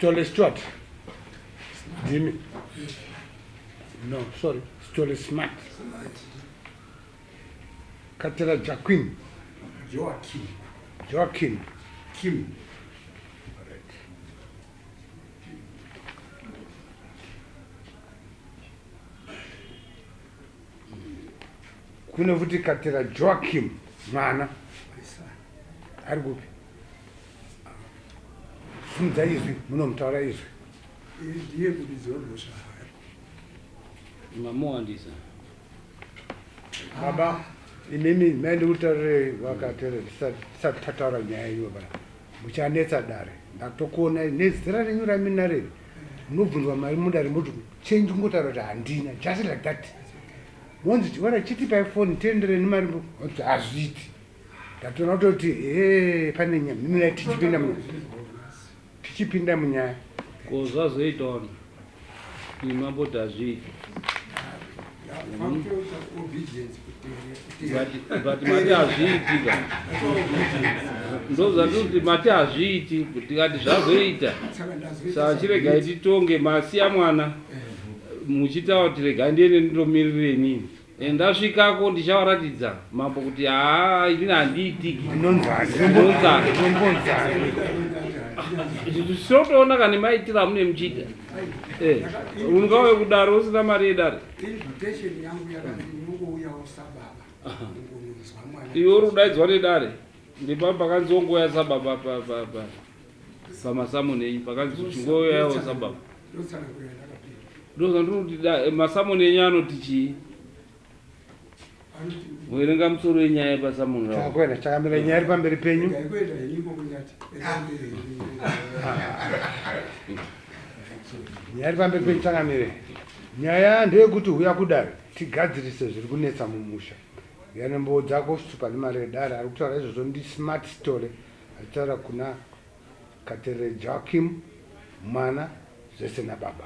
Stole Stuart. Jimmy. No, sorry. Stole Smart. Katera Joaquin. Joaquin. Joaquin. Kim. kune kuti katira joakim mwana ari kupi simudza izwi munomutaura izwi ndiye kudidziwa mhosva hayo mamowandisa baba imimi mai ndikutaurire vakatere tisati tataura nyaya iyoba muchanetsa dare ndatokuonai nezera renyu raminarei munobvunzwa mari mudare moti change ungotaura kuti handina just like that monzi chiwana chitipai foni tienderei nemari oti hazviiti ndatoona kutoti he pane nyaya mimina tichipinda munyaya tichipinda munyaya ko zvazoitaona imamboti hazviiti but mati hazviiti ka ndozvatikuti mati hazviiti kuti kati zvazoita saa chiregai titonge masiya mwana muchitaura kuti regai ndiende ndindomirire inini Eh, ndasvikako ndichavaratidza mambo kuti haa inini handiitiki ndinonzana sotoona kana maitira amune muchiita Eh, ungauya kudare usina mari yedare iwe uri kudaidzwa nedare ndipaa pakanzi wongoya sababa pamasamoni enyu pakanzi chingoyawo sababa ndozandinoti masamoni enyu anoti chii Muverenga musoro wenyaya yepa Samuel Rao. Chakwera chakamira nyaya iri pamberi penyu. Nyaya iri pamberi penyu chakamire. Nyaya ndeyekuti huya kudare tigadzirise zviri kunetsa mumusha. Yana mbowo dzako super nemari yedare ari kutaura izvozvo ndi smart story achitaura kuna Katerere Joachim mwana zvese nababa.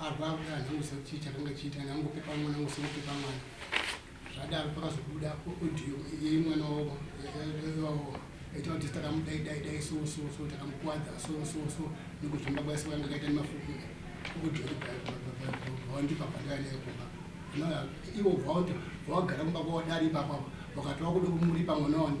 Arwa akuda hanzi angoziva kuti chii chakanga chiita kana angopepa mwana angoziva kupepa mwana zvadaro pakazobuda audio yeimwana wavo wavo aita kuti takamudai dai dai so so so takamukwadza so so so nekuzvimba kwese kwanga kaita nemafuku audio wandipa pandaya naye kumba ivo vauti vawagara kumba kwawadari ipapo wakati wakuda kumuripa mwana wani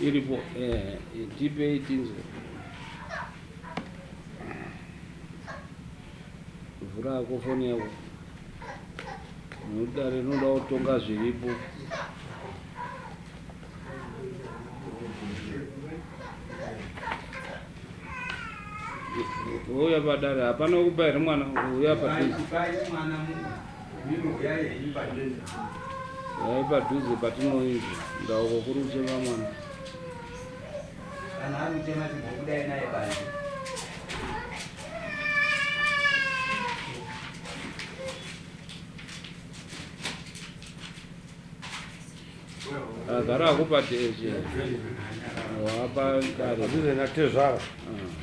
iripo eh, tipei tinzwe vhura yako foni yako nokuti rinoda kutonga zviripo uya padare hapana kupa here mwana uya padare Yai padhuze patinoinzi ndauko kuri kuchema mwana. Kana ari kuchema timbokudai naye bani. Agara akupa tezhe. Wapa kare. Padhuze na tezvara. Ah.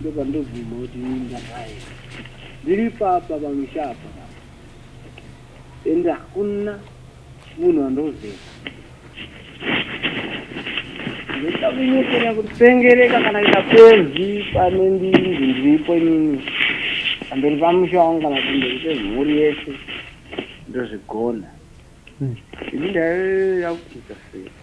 ndopandobvuma kuti minda hayi ndiri papa pamushapa ende hakuna munhu andoziva ndoda kunyepera kutsengereka kana ita pezi pane ndinzi ndiripo inini pamberi pamusha wangu kana pamberi pemhuri yese ndozvigona ini ndaive yakuita sei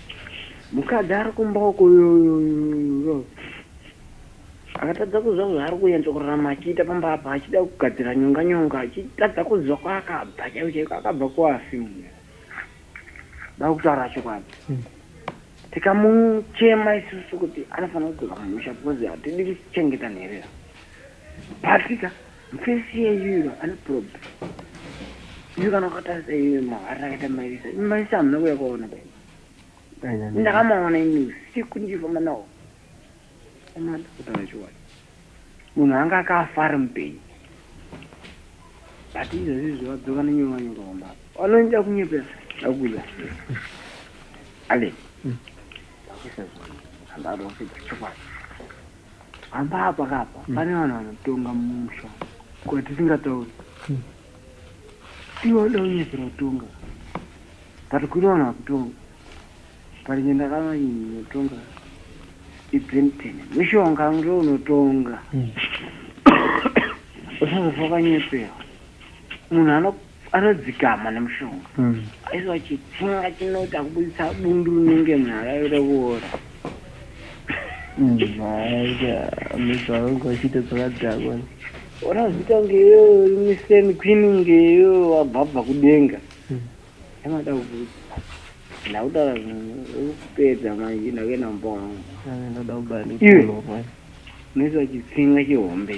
Mukadzi ari kumboko uyo akatadza kuziva kuti zvaari kunyatso kurarama achiita pamba apa achida kugadzira nyonga nyonga achitadza kuziva kwaakabva chaiko chaiko akabva kuafi munhu da kutaura chokwadi hmm. tikamuchema isusu kuti anofanira kudzoka mumusha because hatidi kuchengeta nherera patika Mfesi yenyu ino ane problem. Yu kana ukatarisa iwe mahara akaita maisa. Maisa hamuna kuya kwaona bai. Ndakamaona ini usiku ndichifamba nawo. Amana kutaura chokwadi. Munhu anga akafa ari mupenyu. But izvozvi zvavadzoka nenyuwa nyuka kwamba. Vanoita kunyepera akuya. Ale. Ndakisa zvona. Handado kupedza chokwadi. Apa apa kapa mm. pane vanhu vanotonga mumusha ko tisingatauri mm. tiwada kunyepera kutonga but kuri vanhu vakutonga but nge ndakavanotonga ibenten mishonga ndo unotonga mm. usazofa kanyepera munhu anoku Anodzikama nemushonga aizwa chitsinga chinoita kubuditsa bundu rinenge nyaya yeroora. Mhaya mesa wangu achiita dzakadhakwa. Ona zita ngeyo rimwe same queen ngeyo wabhabha kudenga. Yamada kubuditsa. Ndakutaura zvinhu kupedza manje ndakaenda mumba wangu. Ndoda kubaya ndikulowa. Mesa chitsinga chihombe.